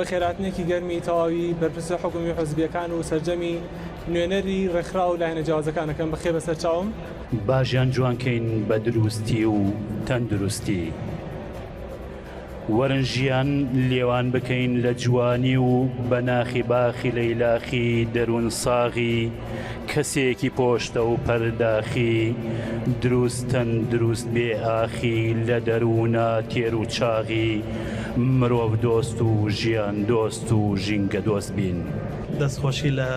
بەخێرهاتنێکی گەرمی تەواوی بەرپرسە حکومی و حزبیەکان و سەرجەمی نوێنەری ڕێکخراو و لایەنە جیاوازەکانەکەم بەخێر بەسەر چاوم. باژیان جوان کەین بە دروستی و تەندروستی. وەرن ژیان لێوان بکەین لە جوانی و بە ناخی باخی لەیلاخی دەروون ساغی کەسێکی پۆشتە و پەرداخی دروست تەندروست بێ ئاخی لە دەروونە تێر و چاغی مرۆڤ دۆست و ژیان دۆست و ژینگە دۆست بین. دەستخۆشی لە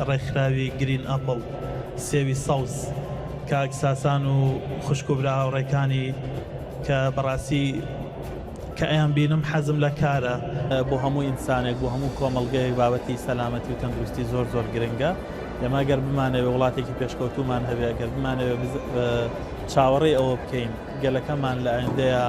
ڕێکخراوی گرین ئەپڵ سێوی سەوز کاک ساسان و خوشک و برا هاوڕێکانی. کە بەڕاستی کە ئەیان بینم حەزم لە کارە. بۆ هەموو ئینسانێک بۆ هەموو کۆمەڵگەیەک بابەتی سەلامەتی و تەندروستی زۆر زۆر گرنگە ئێمە گەر بمانەوێ وڵاتێکی پێشکەوتومان هەبێ گەر بمانەوێ چاوەڕێی ئەوە بکەین گەلەکەمان لە ئایندەیە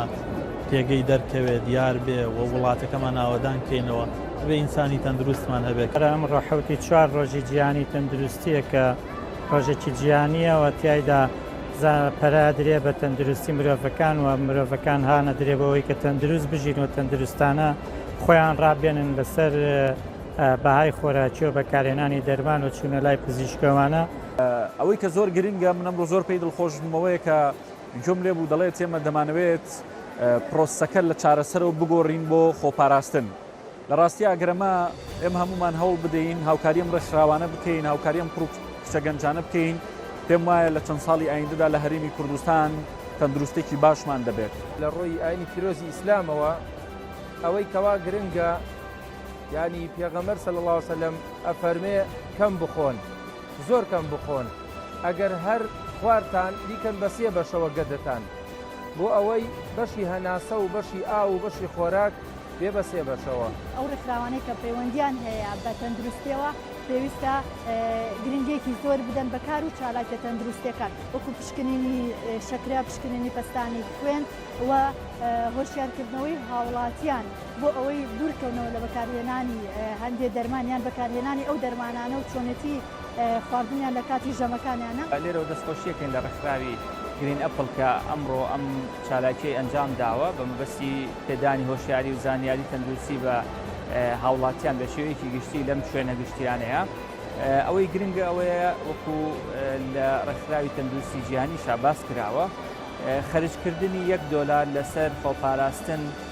پێگەی دەرکەوێ دیار بێ و وڵاتەکەمان ئاوەدان کەینەوە بێ ئینسانی تەندروستمان هەبێت ئەم ڕەحوتی چوار ڕۆژی جیانی تەندروستیەکە ڕۆژێکی جیانیەوە تایدا زا پەرا درێ بە تەندروستی مرۆڤەکان و مرۆڤەکان هانە درێ بەوەی کە تەندروست بژین و تەندروستانە خۆیان ڕابێنن لەسەر بەهای خۆراکی و بەکارهێنانی دەرمان و چوونە لای پزیشکەوانە. ئەوەی کە زۆر گرنگە من ئەمڕۆ زۆر پێی دڵخۆش بووم ئەوەیە کە گوێم لێ بوو دەڵێت ئێمە دەمانەوێت پرۆسەکە لە چارەسەرەوە بگۆڕین بۆ خۆپاراستن لە ڕاستیا گەر ئەمە ئێمە هەموومان هەوڵ بدەین هاوکاری ئەم ڕێکخراوانە بکەین، هاوکاری ئەم کوڕ و کچە گەنجانە بکەین، پێم وایە لە چەند ساڵی ئاییندەدا لە هەرێمی کوردستان تەندروستێکی باشمان دەبێت. لە ڕووی ئایینی پیرۆزی ئیسلامەوە ئەوەی کەوا گرنگە یانی پێغەمبەر صلی اللە وسلم ئەفەرمێ کەم بخۆن زۆر کەم بخۆن ئەگەر هەر خوارتان بیکەن بە سێ بەشەوە گەدەتان بۆ ئەوەی بەشی هەناسە و بەشی ئاو و بەشی خۆراک بێ بە سێ بەشەوە. ئەو ڕێکخراوانەی کە پەیوەندیان هەیە بە تەندروستیەوە پێویستە گرنگێکی زۆر بدەن بە کار و چالاکە تەندروستەکان وەکو پشکنینی شەکرە پشکنینی پەستانی خوێن و هۆشیارکردنەوەی هاوڵاتیان بۆ ئەوەی دوورکەونەوە لە بەکارهێنانی هەندێ دەرمانیان بەکارهێنانی ئەو دەرمانانە و چۆنێتی خواردنیان لە کاتی ژەمەکانیانە. لێرەوە دەستخۆشی ئەکەین لە ڕێکخراوی گرین ئەپڵ کە ئەمڕۆ ئەم چالاکیەی ئەنجام داوە بە مەبەستی پێدانی هۆشیاری و زانیاری تەندروستی بە هاوڵاتیان بە شێوەیەکی گشتی لەم شوێنە گشتیانەیە ئەوەی گرنگە ئەوەیە وەکو لە ڕێکخراوی تەندروستی جیهانیشا باس کراوە خەرجکردنی یەک دۆلار لەسەر خۆپاراستن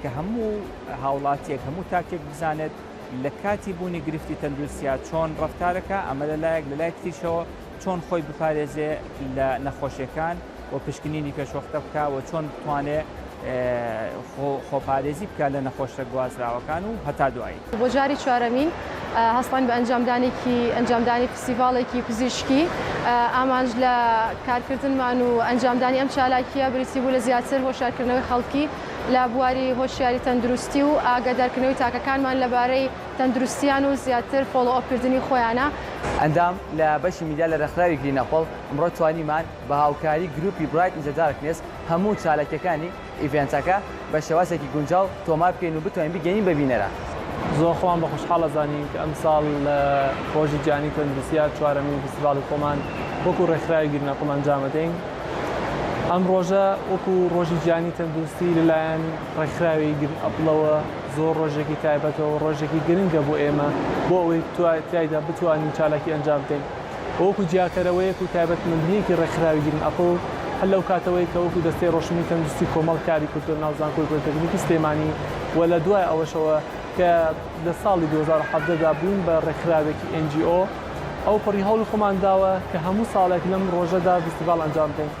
کە هەموو هاوڵاتیەک هەموو تاکێک بزانێت لە کاتی بوونی گرفتی تەندروستیا چۆن ڕفتارەکە ئەمە لە لایەک لە لای تریشەوە چۆن خۆی بپارێزێ لە نەخۆشیەکان و پشکنینی پێشوەختە بکە و چۆن بتوانێ خۆپارێزی بکە لە نەخۆشە گوازراوەکان و هەتا دوایی. بۆ جاری چوارەمین هەستاین بە ئەنجامدانێکی ئەنجامدانی فستیڤاڵێکی پزیشکی ئامانج لە کارکردنمان و ئەنجامدانی ئەم چالاکیە بریتی بوو لە زیاتر هۆشارکردنەوەی خەڵکی لە بواری هۆشیاری تەندروستی و ئاگادارکردنەوەی تاکەکانمان لەبارەی تەندروستیان و زیاتر فۆڵۆ ئۆپکردنی خۆیانە. ئەندام لە بەشی میدیا لە رێکخراوی گرین ئەپڵ، ئەمڕۆ توانیمان بە هاوکاری گروپی برایت ئین زە دارکنێس هەموو چالاکیەکانی. ئیڤێنتەکە بە شێوازێکی گونجاو تۆمار بکەین و بتوانین بیگەیەنین بە بینەران. زۆر خۆمان بە خۆشحاڵ ئەزانین کە ئەمساڵ لە ڕۆژی جیهانی تەندروستییە چوارەمین فیستیڤاڵی خۆمان وەکوو ڕێکخراوی گرناکۆم ئەنجام ئەدەین. ئەم ڕۆژە وەکوو ڕۆژی جیهانی تەندروستی لەلایەن ڕێکخراوی گرن ئەپڵەوە زۆر ڕۆژێکی تایبەتە و ڕۆژێکی گرنگە بۆ ئێمە بۆ ئەوەی تیایدا بتوانین چالاکی ئەنجام بدەین. و وەکو جیاکەرەوەیەک و تایبەتمەندییەکی ڕێکخراوی گرین ئەپڵ هەر لەو کاتەوەی کە وەکو دەستەی ڕۆشنبیری تەندروستی کۆمەڵ کاری کردووە ناو زانکۆی پۆلیتەکنیکی سلێمانی و لە دوای ئەوەشەوە کە لە ساڵی دوو هەزار و حەڤدە دا بووین بە ڕێکخراوێکی ئێن جی ئۆ ئەو پەڕی هەوڵی خۆمان داوە کە هەموو ساڵێک لەم ڕۆژەدا ڤیستیڤاڵ ئەنجام بدەین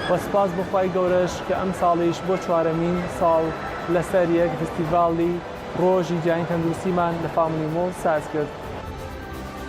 و سوپاس بۆ خوای گەورەش کە ئەمساڵیش بۆ چوارەمین ساڵ لەسەر یەک ڤیستیڤاڵی ڕۆژی جیهانی تەندروستیمان لە فاملی مۆڵ ساز کرد.